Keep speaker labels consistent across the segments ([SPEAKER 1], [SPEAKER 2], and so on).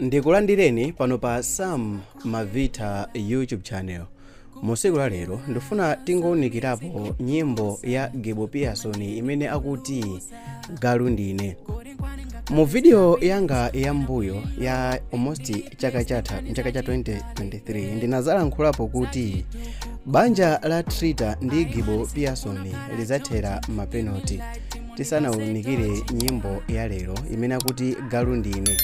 [SPEAKER 1] ndikulandireni pano pa sam mavita youtube channel musiku la lero ndifuna tingounikirapo nyimbo ya gibo pearson imene akuti galu ndine mu vidiyo yanga ya mbuyo ya almost chaka cha 2023 ndinazalankhulapo kuti banja la trita ndi gibo pearson lizathera mapenalty tisanaunikire nyimbo ya lero imene akuti galu ndine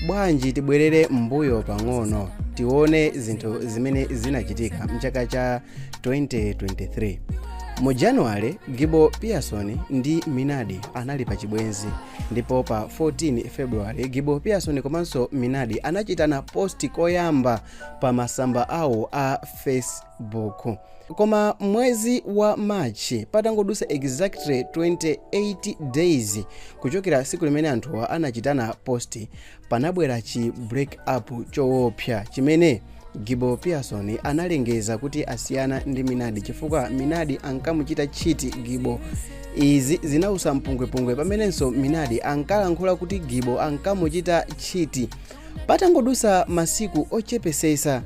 [SPEAKER 1] bwanji tibwerere mbuyo pang'ono tione zinthu zimene zinachitika mchaka cha 2023 mu januwale gibo pearson ndi minadi anali pa chibwenzi ndipo pa 14 februwale gibo pearson komanso minadi anachitana posti koyamba pa masamba awo a facebook Koma mwezi wa March patangodusa exactly 28 days kuchokera siku limene anthuwa anachitana post panabwera chi break up choopsa chimene Gibo Pearson analengeza kuti asiyana ndi Minadi chifukwa Minadi ankamuchita tchiti Gibo izi zinausa mpungwepungwe pamenenso Minadi ankalankhula kuti Gibo ankamuchita tchiti patangodusa masiku ochepesesa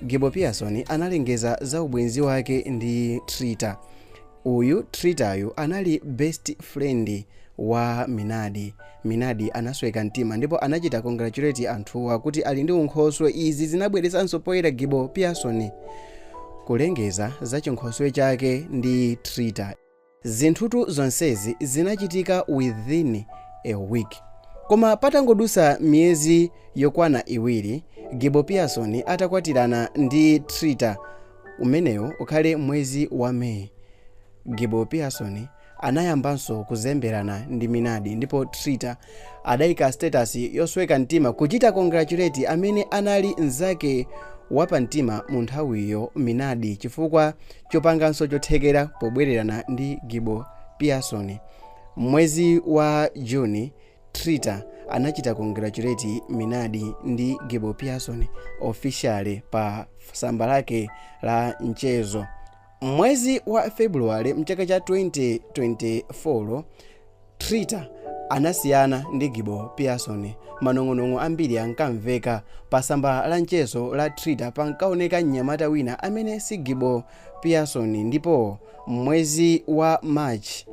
[SPEAKER 1] Gibo Pearson analengeza za ubwenzi wake ndi Trita. Uyu Tritayu anali best friend wa Minadi. Minadi anasweka mtima ndipo anachita congratulate anthuwa kuti ali ndi unkhoswe. Izi zinabweresanso poyera Gibo Pearson kulengeza za chinkhoswe chake ndi Trita. Zinthutu zonsezi zinachitika within a week. Koma patangodusa miyezi yokwana iwiri Gibo Pearson atakwatirana ndi Trita, umenewo ukhale mwezi wa May, Gibo Pearson anayambanso kuzemberana ndi Minadi ndipo Trita adaika status yosweka mtima kuchita congratulate amene anali mzake wapamtima munthawiyo Minadi chifukwa chopanganso chothekera pobwererana ndi Gibo Pearson. M'mwezi wa June, Trita anachita congratulate Minadi ndi Gibo Pearson officially pa samba lake la mchezo. M'mwezi wa February mchaka cha 2024, Trita anasiyana ndi Gibo Pearson. Manong'onong'o ambiri ankamveka. Pasamba la mchezo la Trita pankaoneka mnyamata wina amene si Gibo Pearson ndipo m'mwezi wa March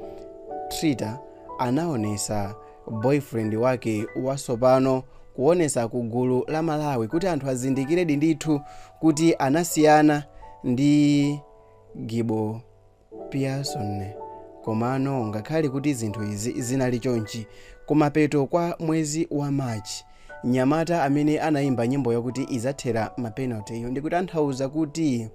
[SPEAKER 1] Trita anaonesa boyfriend wake wasopano kuonesa ku gulu la Malawi kuti anthu azindikiredi ndithu kuti anasiyana ndi Gibo Pearson, Komano ngakhale kuti zinthu izi zinali chonchi, kumapeto kwa mwezi wa March, mnyamata amene anaimba nyimbo yakuti Idzathera Mapenalty'yo ndikutanthauza kuti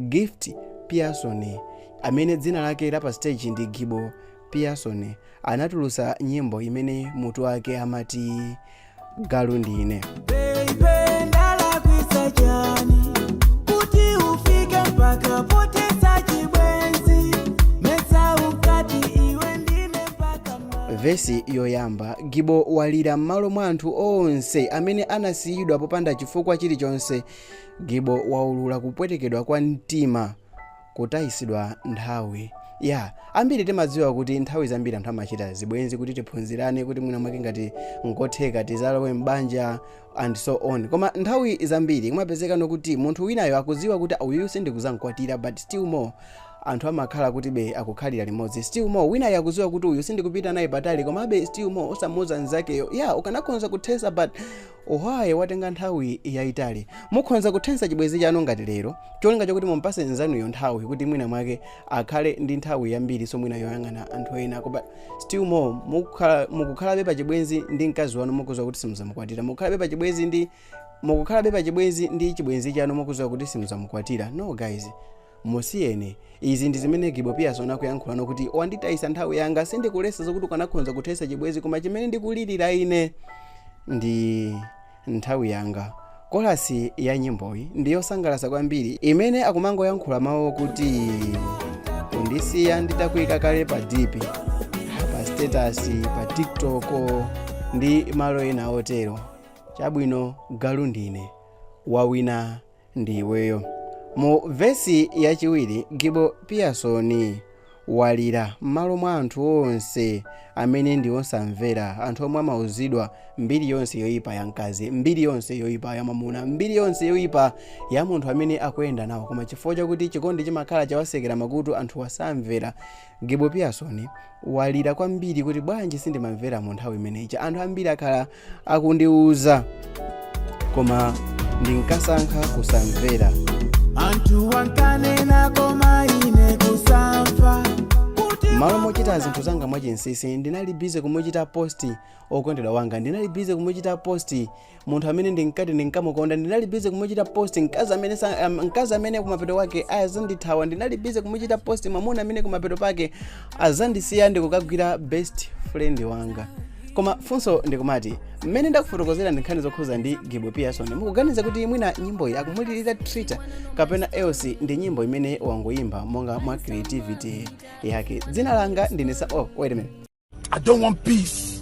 [SPEAKER 1] Gift Pearson, amene dzina lake la pasiteji ndi Gibo Pearson, anatulutsa nyimbo imene mutu wake amati galu ndine Baby, ndalakwisa chani kuti ufike mpaka potesa chibwenzi mesa ukati iwe ndine mpaka ma vesi yoyamba gibo walira m'malo mwa anthu onse amene anasiyidwa popanda chifukwa chilichonse gibo waulula kupwetekedwa kwa mtima Kutayisidwa nthawi. Ya, ambiri timadziwa kuti nthawi zambiri anthu amachita zibwenzi kuti tiphunzirane kuti mwina mwake ngati nkotheka tizalowe m'banja and so on. Koma nthawi zambiri kumapezekano kuti munthu winayo akudziwa kuti uyuyu sindikuzamkwatira but still more anthu amakhala kuti be akukhalira limodzi. Still more winayo akudziwa kuti uyu sindikupita naye patali komabe still more osamuuza nzakeyo. Ya, ukanakhonza kuthesa but Why watenga nthawi yayitali? Mukhonza kuthetsa chibwenzi chanu ngati lero, cholinga chokuti mumpase nzanuyo nthawi kuti mwina mwake akhale ndi nthawi yambirinso mwina yoyang'ana anthu ena but still more mukukhalabe pa chibwenzi ndi mkazi wanu mukuziwa kuti simuzamukwatira, mukukhalabe pa chibwenzi ndi chibwenzi chanu mukuziwa kuti simuzamukwatira. No guys. Musiyeni. Izi ndi zimene Gibo Pearson akuyankhulano kuti wanditayisa nthawi yanga sindikulesa zokuti ukanakhonza kuthesa chibwezi koma chimene ndikulirira ine ndi nthawi yanga. Chorus ya nyimboyi ndi yosangalasa kwambiri imene akumangoyankhula mawu okuti undisiya nditakuika kale pa dp pa status pa tiktok ndi malo ena otero chabwino galu ndine wawina ndi iweyo mu vesi yachiwiri gibo pearson walira m'malo mwa anthu onse amene ndi osamvera anthu omwe amauzidwa mbiri yonse yoyipa ya mkazi mbiri yonse yoyipa ya mwamuna mbiri yonse yoyipa ya munthu amene akuyenda nawo koma chifukwa chakuti chikondi chimakhala chawasekera makutu anthu wasamvera gibo pearson walira kwambiri kuti bwanji sindimamvera mu nthawi imeneyi anthu ambiri akhala akundiuza koma ndinkasankha kusamvera anthu wankanena koma ine kusamva kuti m'malo mochita zinthu zanga mwachinsisi ndinali bize kumuchita posti okondedwa wanga ndinali bize kumuchita posti munthu amene ndinkati ndinkamukonda ndinali bize kumuchita posti mkazi amene kumapeto kwake azandithawa ndinali bize kumuchita posti mwamuna amene kumapeto kwake azandisiya ndikukagwira best friend wanga koma funso ndikumati mmene ndakufotokozera ndi nkhani zokhuza ndi gibo pearson mukuganiza kuti mwina nyimboyi akumulirira trita kapena else ndi nyimbo imene wangoyimba monga mwa creativity yake dzina langa ndine sa oh wait a minute I don't want
[SPEAKER 2] peace.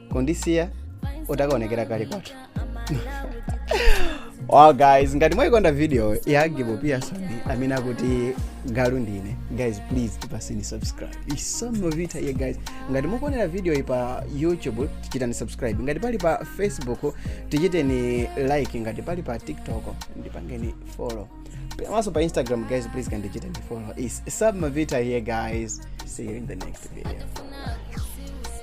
[SPEAKER 1] kundisiya utakaonekera kale kwathu wow guys ngati mwayikonda video ya gibo pearson amene akuti galu ndine guys please tipaseni subscribe it's omovita here guys ngati mukuonera video iyi pa youtube tichiteni subscribe ngati pali pa facebook tichiteni like ngati pali pa tiktok ndipangeni follow komanso pa instagram guys please kandichiteni follow it's omovita here guys see you in the next video